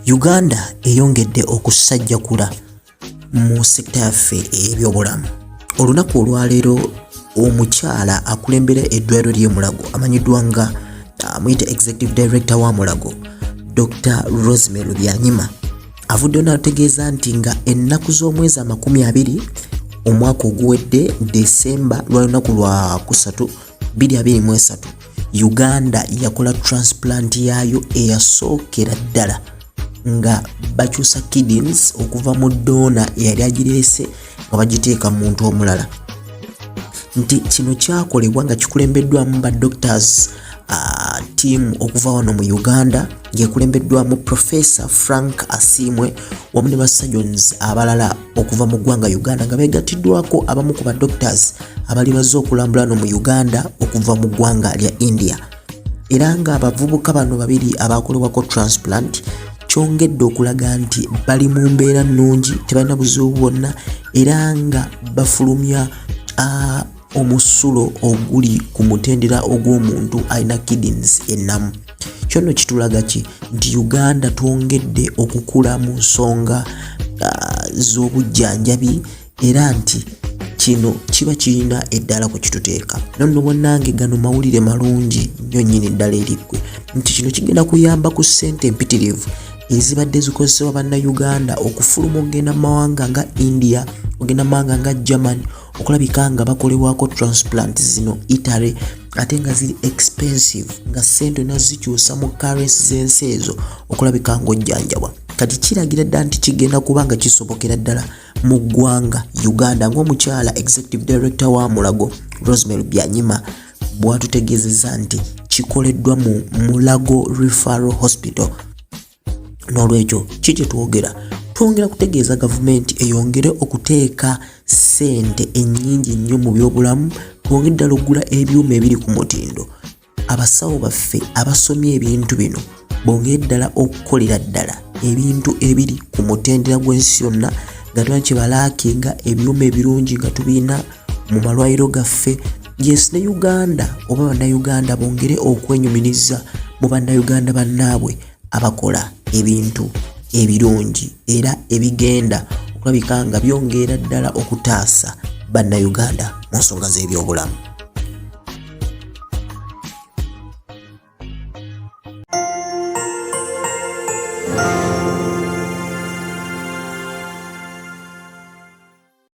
uganda eyongedde okusajjakula mu sekita yaffe ebyobulamu olunaku olwaleero omukyala akulembera eddwaliro ly'emulago amanyiddwa nga amuyita uh, executive director wa mulago dr rosemary lubyanyima avuddeyo n'ategeeza nti nga ennaku z'omwezi amakumi abiri omwaka oguwedde desemba lwa lunaku lwa kusatu 223 Uganda yakola transplant yaayo eyasookera ddala nga bakyusa kidneys okuva mu doona eyali agireese nga bagiteeka mu muntu omulala nti kino kyakolebwa nga kikulembeddwamu ba doctors uh, team okuva wano mu uganda ng'ekulembeddwamu professor frank asiimwe wamu ne ba surgeons abalala okuva mu ggwanga Uganda nga begattiddwako abamu ku ba doctors abali bazze okulambula no mu Uganda okuva mu ggwanga lya India era nga abavubuka bano babiri abakolebwako transplant kyongedde okulaga nti bali mu mbeera nnungi tebalina buzibu bwonna era nga bafulumya ah, omusulo oguli ku mutendera ogw'omuntu alina kidneys ennamu kyo nno kitulaga ki nti uganda twongedde okukula mu nsonga uh, z'obujjanjabi era nti kino kiba kirina eddala ku kituteeka nonno bannange gano mawulire malungi nnyo nnyini eddala eriggwe nti kino kigenda kuyamba ku ssente empitirivu ezibadde zikozesebwa bannayuganda okufuluma okugenda mu mawanga nga india okugenda mu mawanga nga germany okulabika nga bakolebwako transplant zino italy ate nga ziri expensive nga sente olina zikyusa mu currency z'ensi ezo okulabika ng'ojjanjabwa kati kiragira ddala nti kigenda kuba nga kisobokera ddala mu ggwanga uganda ng'omukyala executive director wa mulago rosemary byanyima bwatutegeezeza nti kikoleddwa mu mulago referral hospital n'olwekyo ki kye twogera twongera kutegeeza gavumenti eyongere okuteeka ssente ennyingi nnyo mu byobulamu twongere ddala okugula ebyuma ebiri ku mutindo abasawo baffe abasomye ebintu bino bongere ddala okukolera ddala ebintu ebiri ku mutendera gw'ensi yonna nga twa kye balaakinga ebyuma ebirungi nga tubirina mu malwaliro gaffe yes ne uganda oba bannayuganda bongere okwenyumiriza mu bannayuganda bannaabwe abakola ebintu ebirungi era ebigenda okulabika nga byongeera ddala okutaasa bannayuganda mu nsonga z'ebyobulamu